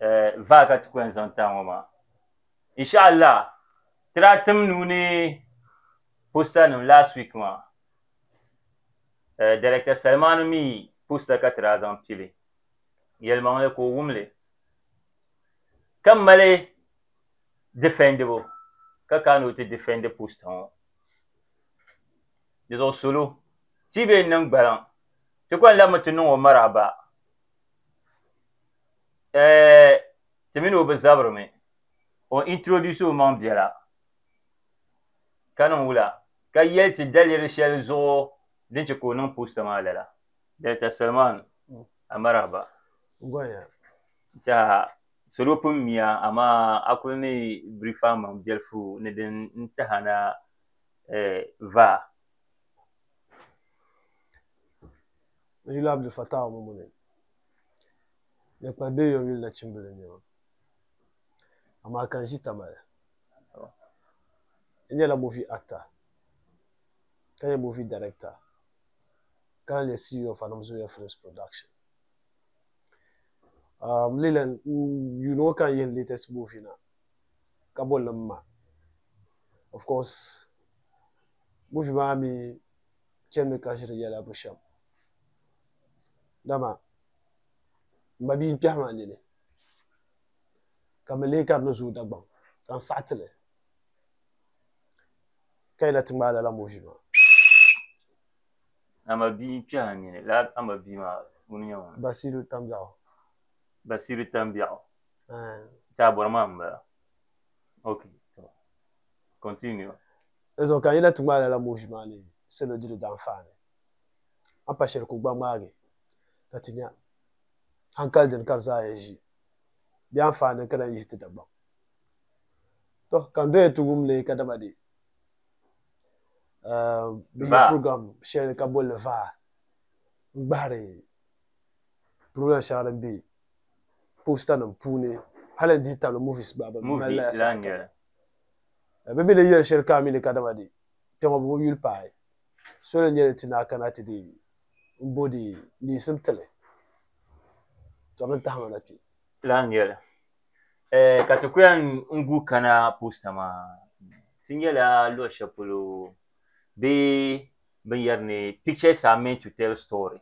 eh, vaa ka ti kɔhim zaŋ taa ŋɔ maa inshaallah ti daa tim nuu ni posta nim last week maa eh, director Salmani mi posta ka ti daa zaŋ pili yɛlimaŋli ka o wumli ka mali difɛndibu ka ka ni o ti difɛndi posta ŋɔ di zuɣu solo ti bee niŋ gbaliŋ ti kɔni labimi ti niŋ o maraaba eh, ti mini o bi zabirimi, o introduce omaŋ biɛla ka niŋ wula ka yɛli ti daliri shɛli zuɣu din chɛ ka o niŋ poster maa lala. Director Salman a marahaba. Gonya. Tiɛha salo pun miya amaa a kuli ni brief a maŋ biɛlifu ni din n tahana eh, vaa. N yuli Abdul Fattah Mumuni ni kpali bɛ yom yuli nachimbili n-nyɛ ma, amaa ka n ʒi Tamale. N nyɛla movie actor ka nyɛ movie director ka lahi nyɛ CEO of Anam Zoya Films Production. Um, n leela yuuni ŋɔ ka n yihi n latest movie na ka bolli M Ma. Of course, movie maa mi chɛnimi ka ʒiri yɛla bushɛm dama m ba bia n-kpɛhi ma nini ka mi leei ka di ni zooi Dagbaŋ ka n saɣiti li ka yi na ti ŋmaai lala movi maa. A ma bia n-kpɛhi a nini. Lala a ma bia maa ŋuni n-nyɛ ŋun? Basiiru Tambiɛɣu. Basiiru Tambiɛɣu. Aai. Ti a bɔri maa m-bala. Okay. Continue. Dinzuɣu ka n yi lahi ti ŋmaai lala muuvi maa ni salo di di daanfaa ni, a pa shɛli ka o gba ŋmaagi ka ti nya hankali dini ka di zaa yɛn ʒi bɛ anfaani ni ka lahi yihi ti Dagbaŋ. Tɔ, ka n doya ti wum li ka dama dee bɛ yihi program shɛli ka boli li vaa n-gbahiri program shɛŋa din be postanim puuni hali n dihi tabili movies gba bɛ mali la ya saha kam. Ka bɛ mi ni yɛli shɛli ka a mi li kadama di kpe ŋɔ bɛ bi yuli paai soli n-nyɛ li ti naa kana ti di m-bo di niisim ti li tɔb n tahi ma na kpe. Lan nyɛli, Ɛɛh, ka ti ku yɛn n-guui kana poosta maa ti nyɛla luɣ shɛli polo bee binyɛri ni Pictures are meant to tell story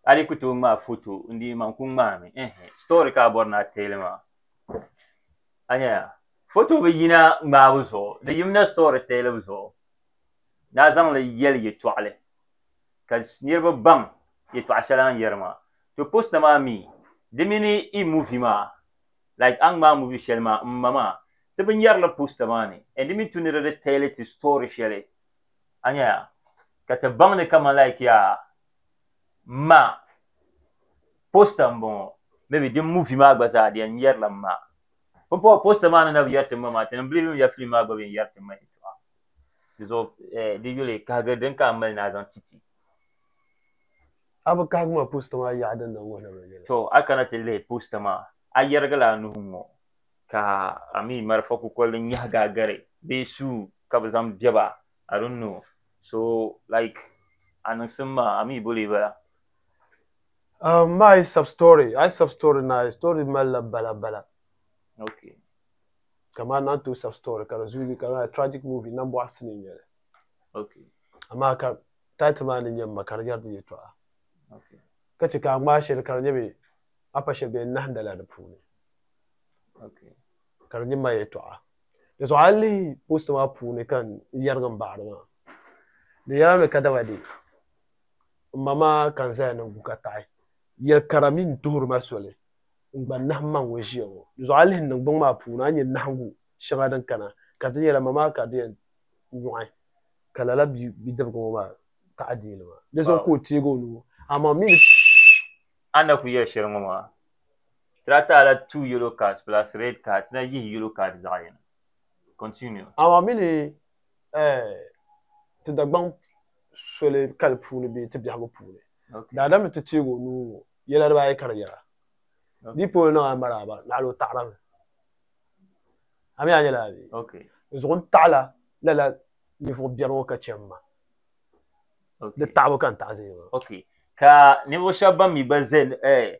A di ku tooi ŋmaai foto n-di man ku ŋmaami, ɛɛh, story ka a bɔri ni a teei li maa. A nyaya, foto bi yina ŋmaabu zuɣu, di yimina story telling zuɣu ni a zaŋ li yɛli yɛtɔɣili ka niriba baŋ yɛtɔɣa shɛli a ni yɛri maa. To poster maa mi di mini i movie maa like a ni ŋmaai movie shɛli maa m ma maa ti binyɛri li poster maa ni and di mi tu ni di di tell ti story shɛli a nyaya ka ti baŋ ni kaman like yaa ma poster n bɔŋɔ maybe din movie maa gba zaa di yɛn yɛrila ma pumpɔŋɔ poster maa ni na bi yɛri tim ma maa ti ni believe mi ya film maa gba bi yɛn yɛri tim ma yɛtɔɣa di zuɣu eh, di yuli kahigiri din ka a mali ni a zaŋ ti ti A bi kahigi ma poster maa yaɣa din na n wuhila ma yɛla. to a kana ti lihi poster maa a yɛrigila a nuhi ŋɔ ka a mi marafa kukoli din nyahigi a gari bee suu ka bi zaŋ bɛba I don't know so like a niŋsim maa a mi boli bala Um, ma I sub story, I sub story na I story mali la bala bala. Okay. Kama na to sub story ka di zuyi ka na tragic movie na bɔɣu sini nyɛli. Okay. Amaa ka title maa ni nyɛ ma ka di yɛri di yɛtɔɣa. Okay. Ka chɛ ka a ŋmaa shɛli ka di nyɛ mi a pa shɛli bee nahinda la di puuni. Okay. Ka di nyɛ ma yɛtɔɣa. Di zuɣu a ni lihi post maa puuni ka n yɛrigi m baɣiri maa, di yɛla ni kadama dee m ma maa ka n zaya ni n gu ka taɣi yɛl kara mini duhiri ma soli n gba nahi m ma ŋun ʒiya ŋɔ. Di zuɣu a lihi niŋgbuŋ maa puuni a ni nya nahigu shɛŋa din kana ka di yɛla ma maa ka di yɛn nyɔɣi ka lala bidibga ŋɔ maa taɣi deeli maa. Di zuɣu ka o teegi o nuu amaa m mi ni. A ni daa kuli yɛli shɛli ŋɔ maa Tirata la two yellow cards plus red card na yihi yellow card zaɣ yini. Continue. Amaa mi ni eh, ti Dagbaŋ soli kali puuni bee ti biɛhigu puuni, Okay. daadam ni ti teeg o nuu ŋɔ yɛla dibaa ayi ka di yɛra, Okay. Di polo niŋ a maraaba, naɣila o taɣira mi. A mi a nyɛla abi. Okay. Di zuɣu n taɣila lala ninvuɣ biɛri ŋɔ ka chɛ m ma. Okay. Di taɣibu ka n taɣi zaya maa. Okay. Ka ninvuɣ shɛba ban mi gba zaya eh,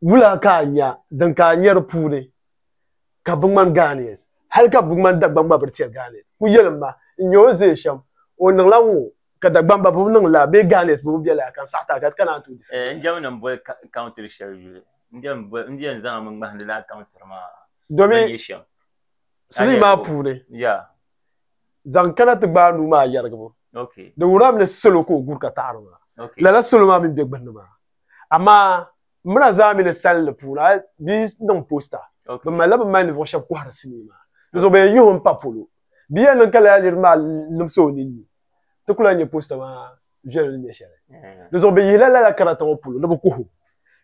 Wula ka a nya din ka a nya di puuni ka bi ŋmani Ghanaians? Hali ka bi ŋmani Dagbaŋ gba bi tiri Ghanaians. Ku yɛlim ma, n nya o ni zaya shɛm, o niŋla ŋɔ ka Dagbaŋ ba bi niŋ laa bee Ghanaians bi bi bɛ laa ka n saɣi ti a ka ti kana a ni tooi defend a. N diɛm ni n boli country shɛli yuli. N diɛm n zaŋmi ŋmahindi laa country maa ban nyɛ shɛm. Domin sinii maa puuni, zaŋ kana ti gbaai nuu maa yɛrigibu. Di wuhirila mi ni salo ka o guri ka taɣiri maa. Lala salo maa mi m-be gbunni maa. amaa m mi la zaa mi ni salinli puuni a bi niŋ posta bi mali la bi mali ninvuɣu shɛba kɔhiri sinii maa di zuɣu bɛ yɛn yihi o m-pa polo bia yɛn niŋ ka lala niriba maa limsi o ninni ti ku lahi nya posta maa viɛli ni nyɛ shɛli di zuɣu bɛ yihi la lala karata ŋɔ polo ni bi kuhi o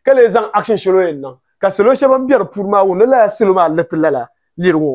ka lee zaŋ action shɛli o yɛn niŋ ka salo shɛba ban be di puuni maa wum ni lala salo maa ni ti lala niri ŋɔ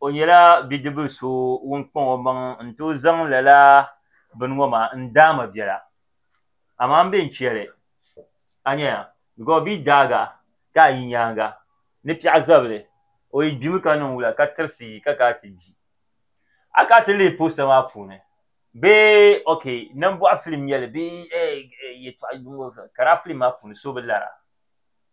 o nyɛla bidibili so ŋun kpaŋ o maŋ n tooi zaŋ lala bini ŋo maa n daama biɛla amaa n bɛ ni chɛli a nyɛya bikos bia daaga ka a yi nyaanga ni piɛɣu zabili o yi gbimi ka niŋ wula ka tirisi ka kana ti gbi a kana ti lihi posta maa puuni bee ookɛ nambɔɣu filimu n nyɛli bee yɛltɔɣa ka laa filim maa puuni so bi lara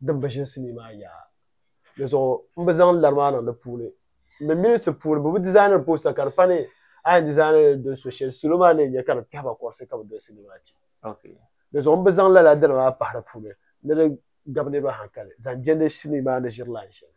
din bi ʒini sinii maa yaa. Di zuɣu m bi zaŋ lari maa niŋ di puuni. M mi minisi puuni bɛ bi dizaaniri poosta ka di pa ni a yɛn dizaani li doli so shɛli salo maa ni yɛn nya ka di kpɛhi ba kɔrisi ka bɛ doli sinii maa che. Di zuɣu m bi zaŋ lala dini maa pahi di puuni ni di gabi niriba hankali zaŋ jɛndi sinii maa ni ʒiri lain shɛli.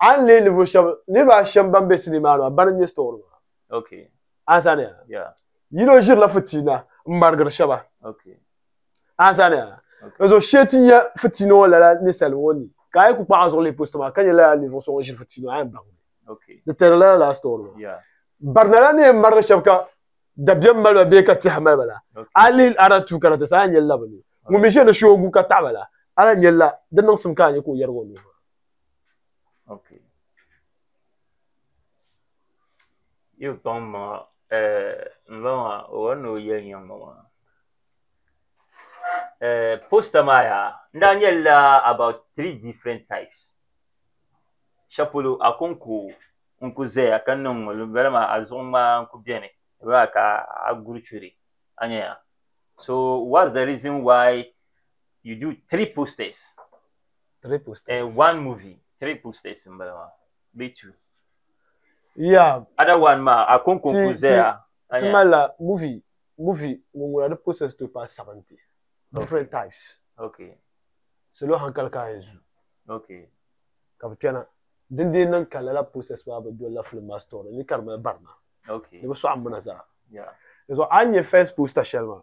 A ni leei ninvuɣu shɛba, niriba a shɛm ban be sinii maa ni maa, bana n-nyɛ store maa. Okay. A ni sani ya? Yeah. Yino ʒiri la fitiina m-marigiri shɛba. Okay. A ni sani ya? Okay. N-zo shee ti nya fitiina ŋɔ lala ninsali ŋɔ ni, ka a yi ku kpaɣi a zuɣu lihi posto maa, ka nya lala ninvuɣu so ŋun ʒiri fitiina ŋɔ, a yɛn baŋ mi. Okay. Di tɛri la lala store maa. Yeah. Barina la ni yɛn marigi shɛba ka dabiɛm mali ba bee ka tɛha mali ba la, Okay. a lihi a na tuui kana ti sa, a yɛn nyɛli la bɛ ni. Ŋun mi ʒiri ni shoogu ka taɣi ba la, a lahi nyɛli la di niŋsim ka a nya ka o yɛrigi o nuhi maa. Okay. Yi kpaŋ maŋa n ba maa o wari ni o yɛli nyaŋ ma maa posta maa yaa n daa nyɛlila about three different types shɛli polo akonko n ku zaya ka niŋ ŋɔ din bala maa a zuɣu ŋmaa n ku beni din bala maa ka a guri churi a nya ya so whats the reason why you do three postas. Triple States. Eh, one movie, Triple States in Balama. Be two. Yeah. Other one ma, a kon kon ku zaya. Ti ma la movie, movie, ngungula di process to pa 70. Different okay. types. Okay. Salo hankali ka ayi zu. Okay. Ka bi kpɛna. Din dee niŋ ka lala process maa bi doli la film maa story ni ka di mali barina. Okay. Ni bi sɔɣi mina zaa. Yeah. Ni so a nyɛ first poster shɛli maa.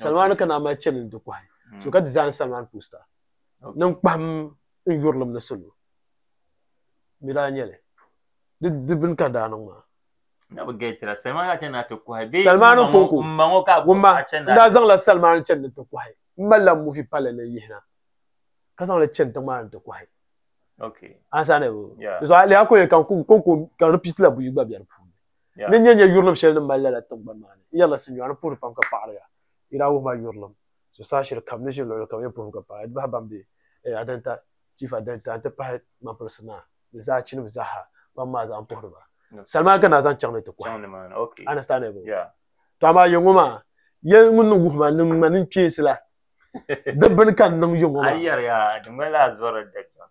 Salmaani ka naa mali chani n-ti kɔhi. Hmm. So ka design Salman poster. Niŋ kpahim n yurilim ni salo. Mi daa nyɛli. Di bini ka daa niŋ maa. Na bi gɛtira Salman ka chani na ti kɔhi. Salmaani kɔŋko. N ma ŋɔ ka a kɔhi a chani na. N daa zaŋla Salmaani chani ni ti kɔhi. N malila muvi palli ni yihina. Ka zaŋli chani tiŋ maa ni ti kɔhi. Okay. Ansa ni. Yeah. Zuɣu a lihi a kɔyɛ ka n kɔŋko ka repeat la buyi gba bɛ di puuni. ni nyɛ nyɛ yurilim shɛli ni mali lala tiŋgbani maa ni n yɛrila sinyɔɣu ni puhiri pam ka paɣiriya yi daa wuhi ma yurilim zuɣusaa shɛli kam ni ʒi luɣuli kam yɛn puhimi ka paɣiriya di bahi ban be eh, adanta chief adanta n-ti pahi ŋmanpirisi naa ni zaachinim zaaha ban maa zaa m-puhiri ba salima ka naa zaŋ chaŋ ni ti kɔhi understandable to amaa yɛ ŋɔ maa yɛ ŋun ni wuhi ma ni ŋma ni kpeesi la di bini ka n niŋ yɛ ŋɔ maa a yɛriya di ŋmanila a zɔrila dabiɛm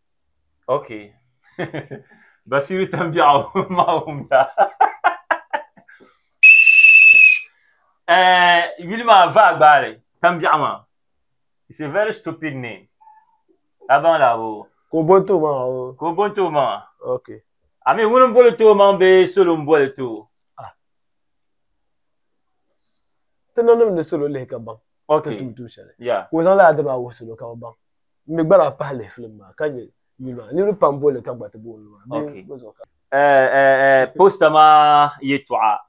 Okay. Basiru Tambiaɣu Mahumda. Eh, yuli maa vaa gbaali Tambiaɣu maa. It's a very stupid name. Abaŋ la bo. Ka o boli tooi maŋa o. Ka o boli tooi maŋa. Okay. I mean ŋuni m-boli tooi maŋ bee solo m-boli tooi? Ah. Ti nanim ni solo lihi ka baŋ. Okay. Ti tum tum shɛli. Yeah. Ka o zaŋ lala diri maa wuhi solo ka bɛ baŋ. mi gba daa pahi lihi filim maa ka nyɛ yuli maa niriba pam boli ka gba ti booni maa bɛ okay. gba zuɣu ka eh, eh, eh, posta maa yɛtɔɣa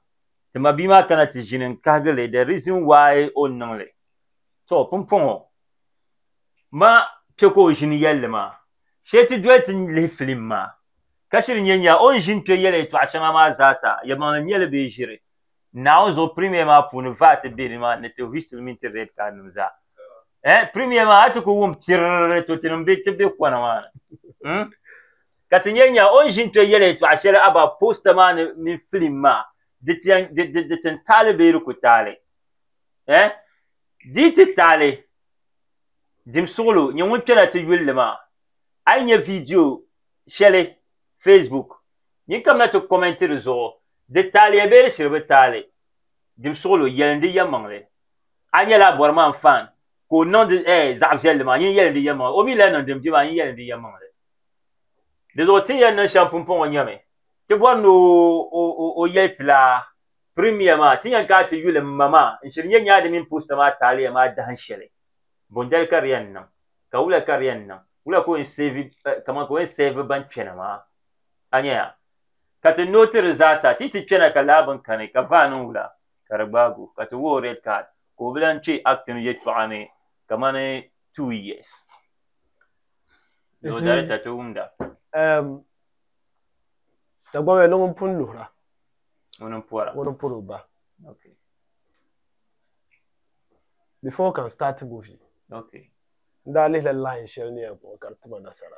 ti ma bia maa kana ti ʒini n kahigi li the reason why o ni niŋ li to pumpɔŋɔ ma kpe ka o ʒini yɛli li maa shee ti doli ti lihi filim maa ka shiri nyɛ nya o ni ʒini kpe yɛli yɛtɔɣa shɛŋa maa zaasa yɛmaŋli nyɛli bee ʒiri Naawuni zuɣu Premier maa puuni VAT be ni maa ni ti whistle mini ti red card nim zaa. Eh, Premier maa a ti ku wum pirrrr to tinim be ti be kɔna maa ni mm. Ka ti nyɛ nya o ni ʒin to yɛli yɛtɔɣa shɛli about poster maa ni mini film maa di ti yɛn di di di tin taali bee di ku taali eh dii ti taali dim suɣulo nyɛ ŋun kpɛna ti yulli maa a yi nyɛ video shɛli Facebook Nyin ka bɛ na ti kɔmɛnti di zuɣu, Di taaliya bee di shiri bi taali? Dim suɣulo, yɛlindi yɛlimaŋli. A nyɛla a bɔri maa n-faan ka o niŋdi eh zaɣ viɛlli maa, nyin yɛlindi yɛlimaŋli. O mi lahi niŋdi m-bi maa, nyin yɛlindi yɛlimaŋli. Di zuɣu ti ni yɛn niŋ shɛm pumpɔŋɔ n-nyɛmi, ti bɔri ni o o yɛli ti la, Pirimiya maa, ti ni yɛn kana ti yuli m ma maa n-shiri nyɛ nyaadi mini posta maa taaliya maa dahin shɛli. Bondali ka di yɛn niŋ, ka wula ka di yɛn niŋ, wula ka o yɛn save, kaman ka o yɛn save ban kpɛna maa. a nya ya, ka ti no ti di zaasa ti yi ti kpɛna ka lahabin kani ka vaa niŋ wula ka di gbaag o ka ti wuhi o red card ka o bi lan kpe acting yɛltɔɣa ni kamani two years. Law Director ti wumda. Eem, Dagbamba ni ŋun pun luhira. Ŋuni n pɔra? Ŋuni n pɔri o ba. Okay. Before o kan start movie. Okay. N daa lihila line shɛli ni yɛn kpuɣi ka di ti ma nasara.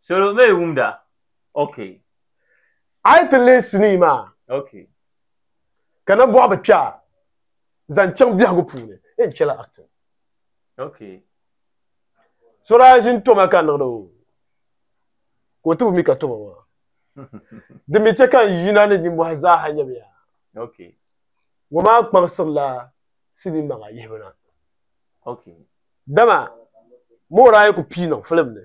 Salo mi wumda. Okay. A yi ti lihi sinii maa. Okay. Ka na bɔɣi bi kpɛɣa zaŋ chaŋ biɛhigu puuni. N chɛla acting. Okay. So daa ʒini toma ka niŋdi o ka o ti bi mi ka toma maa. Di mi chɛ ka n yina ni ninmɔhi zaaha nyamiya. Okay. Ŋɔ maa kpaŋsirila sinii maŋa yihibu na. Okay. Dama mood a yi ku pii niŋ film ni.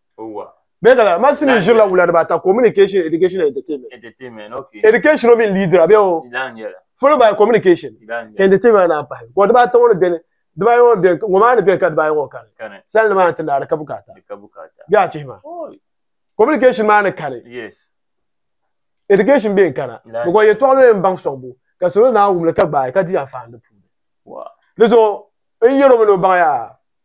Bɛɛ ka la masi ni ʒirila wula dibaa ta communication education entertainment entertainment okay education o min leader bɛ o followed by communication entertainment na pahi ko dibaa ta ŋɔ bɛni dibaa ŋɔ bɛni ŋɔ maa ni bɛni ka dibaa ŋɔ kani sali ni maa ti naari ka bukata bɛ a chihi ma communication maa ni kani education bɛni kana bɛ ko yɛtɔɣa lo yɛn baŋ sɔŋ bu ka salo naa wumli ka gbaai ka di ya faani puuni di zuɣu n yɛro mi ni o baŋ yaa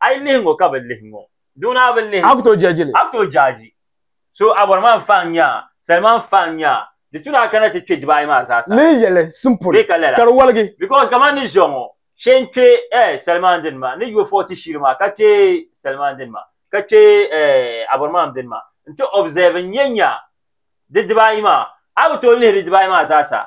A yi lihi ŋɔ ka bi lihi ŋɔ. Duŋ naa bi lihi. A ku tooi jaaji li. A ku tooi jaaji. So a bɔri ma n faŋ nya a, sali ma n faŋ nya a. Di tu ni a kana ti kpe diba ayi maa zaa sa. Lihi yɛli sin pun Bee ka lala. ka di waligi. Because kaman ni ʒiya ŋɔ, shee n kpe eh salimaŋ dini maa, ni yo forty shiri maa ka kpe salimaŋ dini maa, ka kpe eh a bɔri ma n dini maa, n ti observe n nya nya di diba ayi maa. A ku tooi lihi di diba ayi maa zaa sa.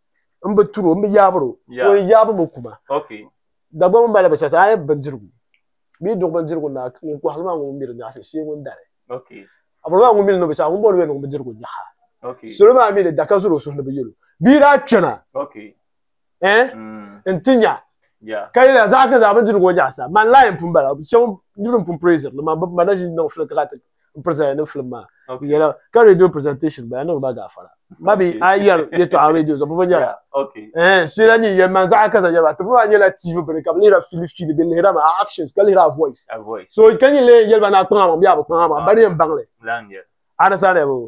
n bi turo n bi yaabiro Yeah. o yɛn yaabimi kuma Okay. Dagbaŋ mali bi sasa a yɛn bindirigu bee duɣu bindirigu na ŋun kɔhiri maa ŋun mi di nyaɣisi shee ŋun dali Okay. a bɔri maa ŋun mi li ni o bi chaɣi ŋun bɔri o yɛn niŋ bindirigu nyaɣa Okay. salo maa mi ni da ka zuri o suhu ni bi yɛlo bia daa kpɛna Okay. eh Mm. n ti nya Yeah. ka yɛliya zaɣa ka zaɣa bindirigu ŋɔ nyaɣisa man laayim pun bala shɛba niriba n pun praisiri ni man bi ma na ʒini niŋ fili ka ka ti n present ni film maa n yɛla ka radio presentation bala niŋ ba gaafara ma bi a yɛri yɛtɔɣa radio zuɣu bɔbɔ nyɛla ɛɛ suyɛla ni yɛli man zaɣa kaza yɛli ba ti bɔbɔ nyɛla tv bini ka bi lihira fili fili bi lihira ma actions ka lihira voice so ka nyɛ lee yɛli ba na kpaŋa ma bi a bi kpaŋa ma ba ni yɛn baŋli a na sa ne bo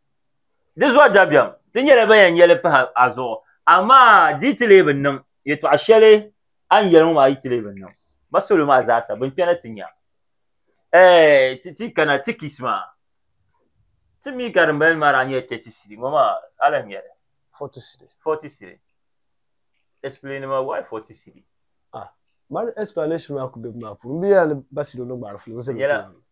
Di zuɣu dabiɛm, ti nyɛla ban yɛn yɛli pahi a zuɣu, amaa di yi ti lee bi niŋ, yɛtɔɣ shɛli a ni yɛli ŋɔ maa yi ti lee bi niŋ, ma salo maa zaasa bɛn kpɛna ti nya, ɛɛ, ti kana Tikis maa. Ti mi ka dimbala ni maa daa nyɛla tɛti sidi, ŋɔ maa a lahi nya li? Fɔti sidi. Fɔti sidi. Ɛsipileeni ma, why fɔti sidi? Ah, mali ɛsipilanɛshin maa ku be bɛ maa puuni. M bi yɛli a ni ba sidi o ni gbaari filiŋsi ni tooi.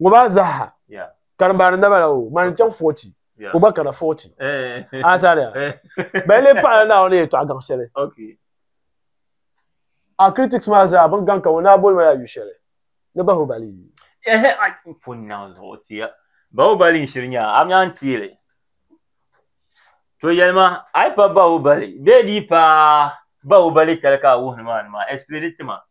ŋɔ maa zaha karimbaani naba la o ŋmani chaŋ 40 ka o gba kana 40 asaria bɛn lee paɣila Naawuni ni yɛtɔɣa gaŋ shɛli a critics maa zaa bɛn gaŋ ka ŋɔ naa boli ma la yu shɛli ni Bahubali Bahubali n shiri nyaa amya n teeli to yɛlima a yi pa Bahubali bee di yi pa Bahubali kali ka a wuhi ni maa ni maa explaini tima.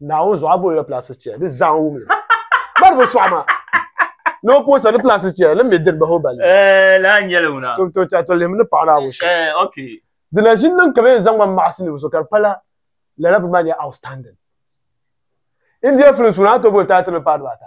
Naawuni zuɣu a boonila plastic chair di zaa wumli bari bi sɔɣi ma ni o poosa ni plastic chair ni mi dini bahi o balli Eh, laa nyɛli wuna. to to cha to lihim ni paɣa Naawuni shɛm Eh, okay. di na ʒini niŋ ka bɛ yɛn zaŋ ma maɣisi ninvuɣu so ka di pala lala bini maa nyɛla outstanding India films ŋuna a ni tooi booni taatiri ni paai dibaata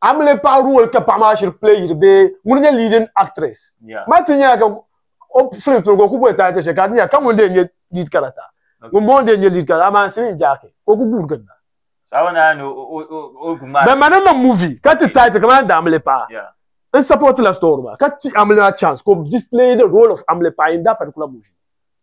a mi lee paɣi role ka paɣi maa shiri play yiri bee ŋuni nyɛ leading actress ma ti nyɛla ka o film piligu o ku boli title shɛli ka di nyɛla ka ŋuni dee nyɛ lead character ŋuni bɔŋɔ dee nyɛ lead character amaa n silin jaaki ka o ku guuri ginda bɛ ma ni niŋ movie ka ti title kamani The Amily Pa n support la story maa ka ti Amily maa chance ka o display the role of Amily Pa in that particular movie.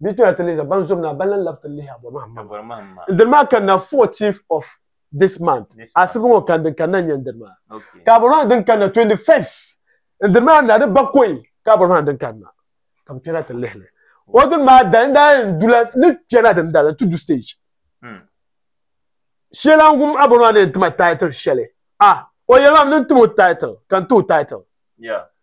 Bia toya ti lihi za ban zom ni a ban lan lab ti lihi a bɔri mahim maa. Ndiri maa kanna 14th of this month asibi ŋɔ kani din kanna n-nyɛ ndiri maa ka a bɔri mahim din kanna 21st ndiri maa na di bakɔi ka a bɔri mahim din kanna ka bɛ kpɛna ti lihili o dini maa dali n daa yɛn dula ni kpɛna dini dali nti du stage shɛla n-wum a bɔri maa ni yɛn tima title shɛli a o yɛli maa m ni tim o title ka n ti o title.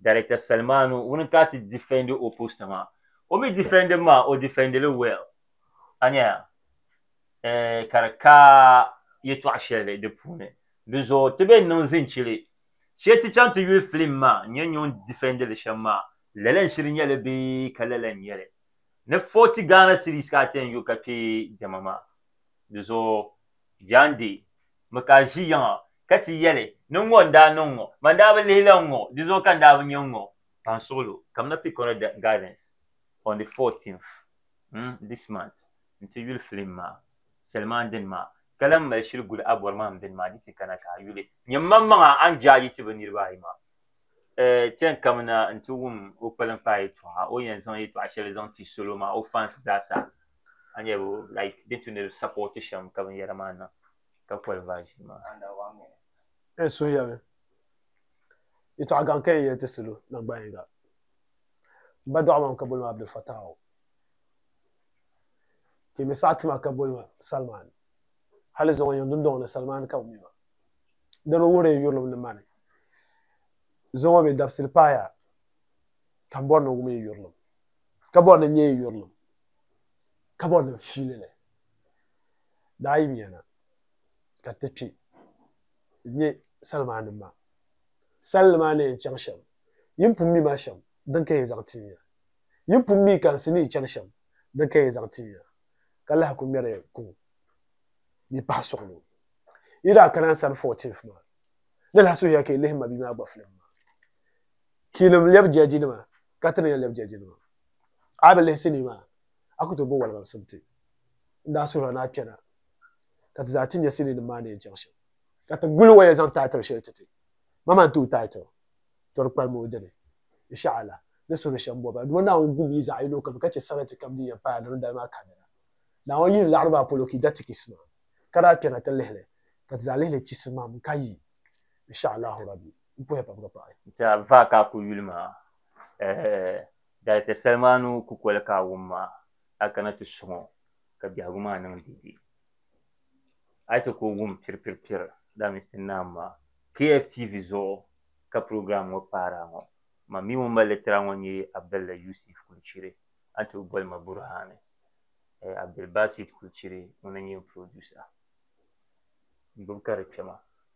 Director Salmanu ŋuni ka ti defendi o post maa. O mi defendi mi maa o defendi li well. A nya ya? Eh, ka di ka yɛtɔɣ shɛli di puuni. Di zuɣu ti be niŋ zinchili. Shee ti chaŋ ti yuli film maa n-yɛn nyo n-defendi li shɛm maa, lala n-shiri nya li bee ka lala n-nya li? Ni forty Ghana cedis ka a ti yɛn yo ka kpe diɛma maa. Di zuɣu Jaan Dee mi ka ʒi yiŋa, ka ti yɛli, Ni ŋɔ n-daa niŋ ŋɔ, man daa bi lihi la n-ŋɔ, di zuɣu ka n daa bi nya n-ŋɔ. Kpansuɣilo, kamina Picora Gardens on the fourteenth mm this month nti yuli filim maa, Selimaan dini maa, ka lan mali shiri guli a bɔrimahim dini maa ni ti kana ka a yuli. Nyam maŋmaŋa a ni je a yi ti bɛ niriba ayi maa. Eh, chani kamina nti wum o kpaliŋkpaa yɛtɔɣa, o yɛn zaŋ yɛtɔɣa shɛli zaŋ ti salo maa, o fans zaasa. a nyɛ bi like din tu ni bi sapoti shɛm ka binyɛra maa niŋ ka poli vaʒin maa N suhuyɛli yɛtɔɣa gaŋ ka n yɛli ti salo nangban yiŋga. M ba dɔɣi ma mi ka boli ma Abdul Fattah o. Ka yi mi saɣi ti ma ka boli ma Salman. Hali zuŋɔ yiŋ dundɔŋ ni Salman ka bɛ mi ma. Di mi wuhiri n yurilim ni mani zuŋɔ mi dabisili paaya ka m bɔri ni n wum yi yurilim, ka bɔri ni n nya yi yurilim. kabɔri nim fiili ni daa yi nya na ka ti kpi n-nyɛ sal maa nim maa. Sal ni maa ni yɛn chaŋ shɛm, yin pun mi ma shɛm din ka yɛn zaŋ ti nya. Yin pun mi kansi ni yi chani shɛm din ka yɛn zaŋ ti nya, ka lahi ku ŋmɛri kuŋ ni pahi suɣi ni o. Yi daa kana n sani 14th maa, di lahi suhiya ka yi lihi ma bia maa gbafilm maa. Kiilim lɛbi jɛjinima ka ti ni yɛn lɛbi jɛjinima. A yi bi lihi sinii maa, a ku tooi bo walibaŋsim ti. N daa suhiri a ni a kpɛna ka ti zaa ti nya siniinim maa ni yɛn chaŋ shɛm. Ka ti guli o yɛn zaŋ title shɛli ti ti. Ma maa n-ti o title Tɔri Kpalim o dini, Insha'Allah, ni suhiri shɛm bɔbu la. Duuma Naawuni gum yi zaɣ'yinokam ka chɛ sarati kam din yɛn paai di ni dali maa kanira. Naawuni yihili laɣiri maa polo ka yi da tikisi maa, ka daa kpɛna ti lihi li, ka ti zaa lihi li chisimam ka yi, Insha'Allahu Rabbi. Bɔya pam ka paɣi. Nti a vaa ka a ku yuli maa, ɛɛh, dali ti sali maa ni o kukoli ka a wum maa, a kana ti suŋ o ka biɛhigu maa niŋ deedee. A yi chɛ ka o wum piripiripiri, daa mini ti naam maa, KFTV zuɣu ka program ŋɔ paari a ŋɔ. Man mi ŋun mali litira ŋɔ n-nyɛ Abdalla Yusif Kulchiri, a ni tooi boli ma Burhani. Ɛɛh, Abdulbasit Kulchiri ŋuna n-nyɛ n producer. N gbibi ka di kpɛma.